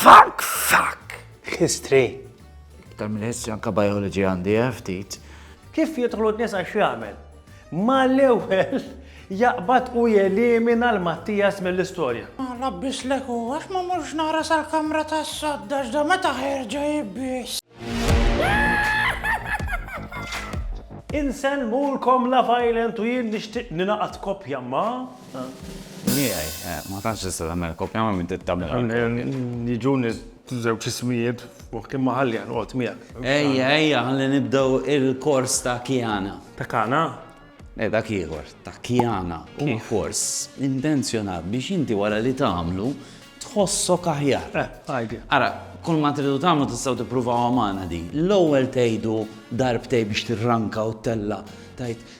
Fuck, fuck! History. Iktar minn history anka biology għandi eh, ftit. Kif jidħlu n-nies għax jagħmel? Ma l-ewwel jaqbad u jelimina l-Mattias mill-istorja. Ma rabbis leku, għax ma murx nara sal-kamra ta' sodda x'da meta ħerġa jibbis. Insen mulkom la violent u jien nixtieq ninaqat kopja ma' Miegħi, eh, ma tantx tista' tagħmel kopja ma' min trid tagħmilha. Jiġuni żewġ ismijiet f'moħħ imma ħalli noqgħod miegħek. Ejja, ejja, ħalli nibdew il-kors ta' Kiana. Ta' Kana? Eh, dak ieħor, ta' Kiana. Huwa kors intenzjonat biex inti wara li tagħmlu tħossok aħjar. Eh, għajdi. Ara, kull ma tridu tagħmlu tistgħu tippruvaw magħna din. L-ewwel tgħidu darbtej biex tirranka u tella' tgħid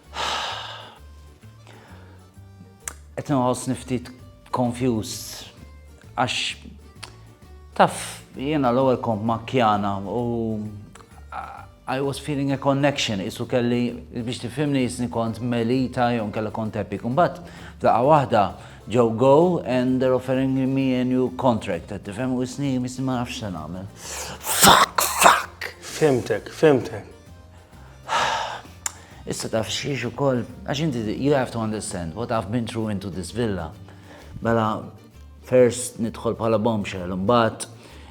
Qed inħossni ftit confused għax taf jiena l-ewwel kont ma' Kjana u I was feeling a connection, isu kelli biex tifhimni jisni kont melita jew kella kont epic. Imbagħad f'daqqa waħda ġew go and they're offering me a new contract, qed tifhem u jisni jisni ma nafx se nagħmel. Fuck, fuck! Fimtek, fimtek. Issa taf xiex u koll, għax inti, you have to understand what I've been through into this villa. Mela, first nidħol bħala bombshell, mbatt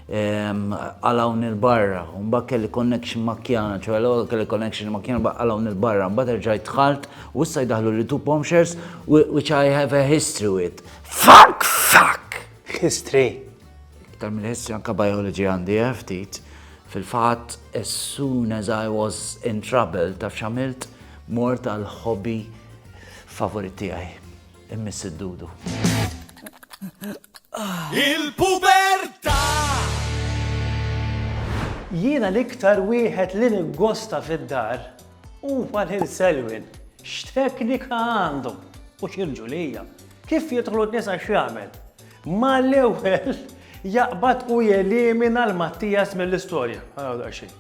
ehm, għalaw nil-barra, mbatt kelli connection ma' kjana, ċoħe l kelli connection ma' kjana, mbatt għalaw nil-barra, mbatt erġajt tħalt, u issa jdaħlu li two bombshells, which I have a history with. Fuck, fuck! History? Iktar minn history anka biology għandi eh ftit. Fil-fatt as soon as I was in trouble taf x'għamilt? Mort għal hobby favorit tiegħi. Immiss id-dudu. Il-pubertà! Jiena l-iktar wieħed li niggosta fid-dar huwa lil Selwyn. X'teknika għandu u x'irġulija. Kif jidħlu n-nisa x'jagħmel. Mal-ewwel jaqbad u jelimina l Mattias mill-istorja. Għaraw daqsxejn.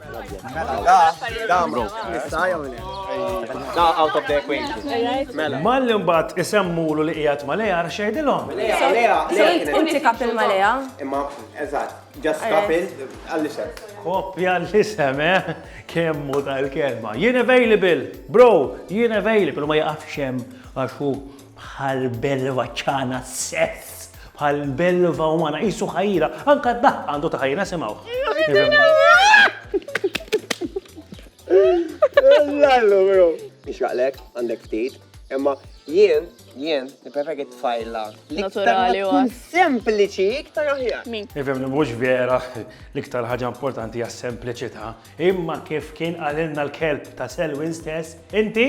Mela. Malli mbagħad isemmulu li qiegħed ma' Lea għax jgħidilhom. Inti kapil ma' Lea. Imma eżatt, ġast kapil għall-isem. Kopja l-isem, eh? Kemmu tal-kelma. Jien available, bro, jien available, ma jaqafx hemm għax hu Bħal belva ċana s-sess. Bħal belva umana qisu ħajra, anka d-daħq għandu ta' ħajra semgħu. Lallu, bro. Ixraqlek, għandek ftit, imma jien, jien, nippreferi tfajla. Naturali u għas. Sempliċi, iktar aħjar. Min? Ifhem li mhux vera l-iktar ħaġa importanti għas sempliċità, imma kif kien qalilna l-kelb ta' Selwyn stess, inti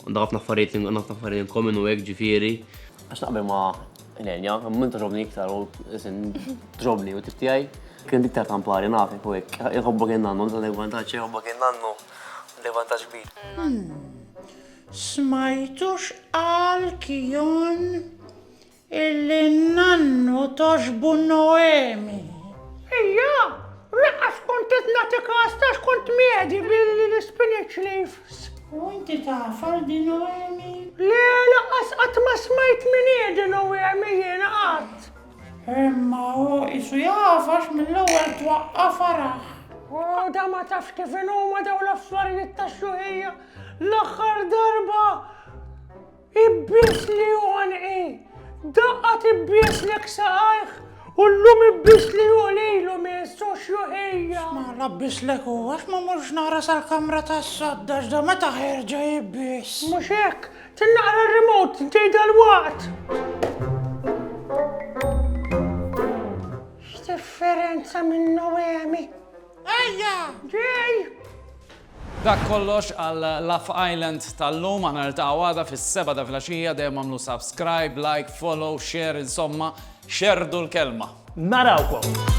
Għandha ħafna affarijiet għandha ħafna affarijiet inkomin u hekk ġifieri. Għax naqbel ma' Elenja, minn toġobni iktar u isin ġobni u tiftijaj. Kien dik ta' kampari nafek u hekk. Iħobbok in-nannu, dan il-vantaġġ iħobbok in-nannu. Għandek vantaġġ kbir. Smajtu x'qal Kion? Illi n-nannu togħġbu Noemi. Hija, laqqas kont qed nagħti kas ta' x'kont mjedi billi l-spinach leaves. U inti taf għal di Noemi? Le, laqqas qatt ma smajt min hi di Noemi jiena qatt. Imma hu qisu jaf għax mill-ewwel twaqqa' faraħ. O, da ma tafx kif inhuma dawn l-affarijiet tax-xjuħija. L-aħħar darba. Ibbiesli u għanqi! Daqqa tibbieslek saqajh u llum ibbiesli u qlilu miss u xjuħija! X'mala bbieslek u għax ma mortx nara sal-kamra tas-sadd għax da meta ħerġa jibbies? Mhux hekk! Tin naqra r-remote intej dalwaqt! X'differenza minn Noemi! Ejja! Ġej! Dak kollox għal Love Island tal-lum, aħna niltaqgħu għada fis-sebgħa ta' flaxija, dejjem agħmlu subscribe, like, follow, share, insomma, xerrdu l-kelma. Narawkom!